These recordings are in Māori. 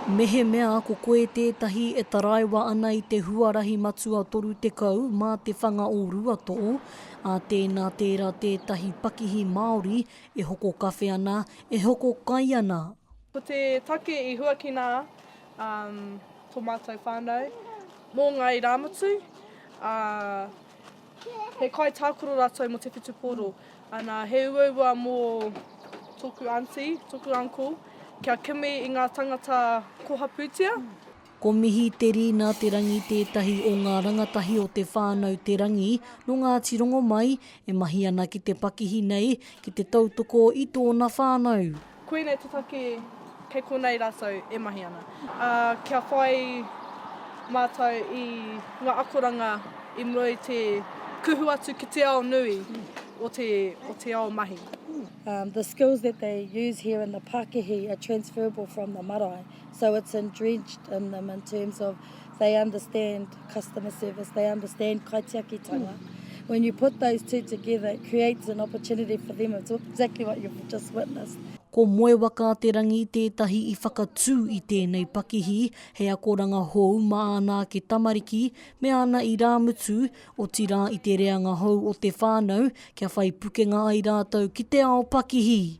Mehemea ko koe tētahi e taraiwa ana i te huarahi matua 30 mā te whanga o Ruatō, ā, tēnā tērā tētahi pakihi Māori e hoko kawhe ana, e hoko kai ana. Ko te take i huakina tō mātou whānau mō Ngāi Rāmutu, ā. He kaitākaro rātou mō te whutupōro, ana, he uaua mō tōku aunty, tōku uncle, kia kimi i ngā tāngata koha pūtea. Ko Mihi Te Rina Te Rangi tētahi o ngā rangatahi o Te Whānau Te Rangi nō Ngāti Rongomai e mahi ana ki te pakihi nei ki te tautoko i tōna whānau. Koinei te take kei konei rātou e mahi ana. Ā, kia whai mātou i ngā akoranga i mua i te kuhu atu ki te ao nui o te, o te ao mahi. The skills that they use here in the Pākihi are transferable from the marae. So it's entrenched in them in terms of they understand customer service, they understand kaitiakitanga. Mm. When you put those two together, it creates an opportunity for them. It's exactly what you've just witnessed. Ko Moe Waka-a-te-rangi tētahi i whakatū i tēnei pakihi, he akoranga hou mā ana ake tamariki me ana irāmutu, otirā i te reanga hou o te whānau, kia whai pukenga ai rātou ki te ao pakihi.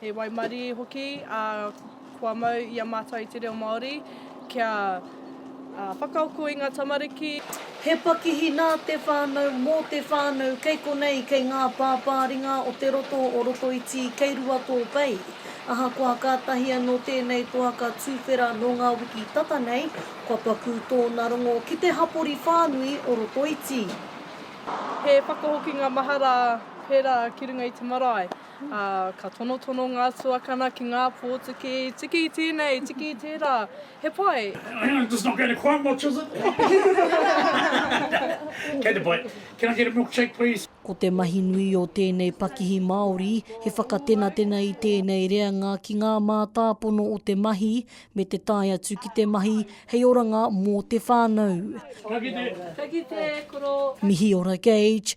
He waimarie hoki, ā, kua mau i a mātou i te reo Māori kia whakaako i ngā tamariki. He pakihi nā te whānau, mō te whānau, kei konei, kei ngā pāpāringa o te roto o Rotoiti, kei rua tō pei. Ahakoa kātahi anō tēnei toa ka tūwhera nō ngā wiki tata nei, kua pakū tōna rongo ki te hapori whānui o Rotoiti. He whakahokinga mahara pērā ki runga i te marae. ā, ka tonotono ngā tuakana ki ngā pōtiki, tiki i tēnei, tiki i tērā, he pai! Hang on, this is not going to quite much, is it? Kei te pai. Can I get a milkshake, please? Ko te mahi nui o tēnei pakihi Māori, he whakatenatena i tēnei reanga ki ngā mātāpono o te mahi me te tae atu ki te mahi hei oranga mō te whānau. Ka kite! Ka kite, koro! Mihi ora Gage,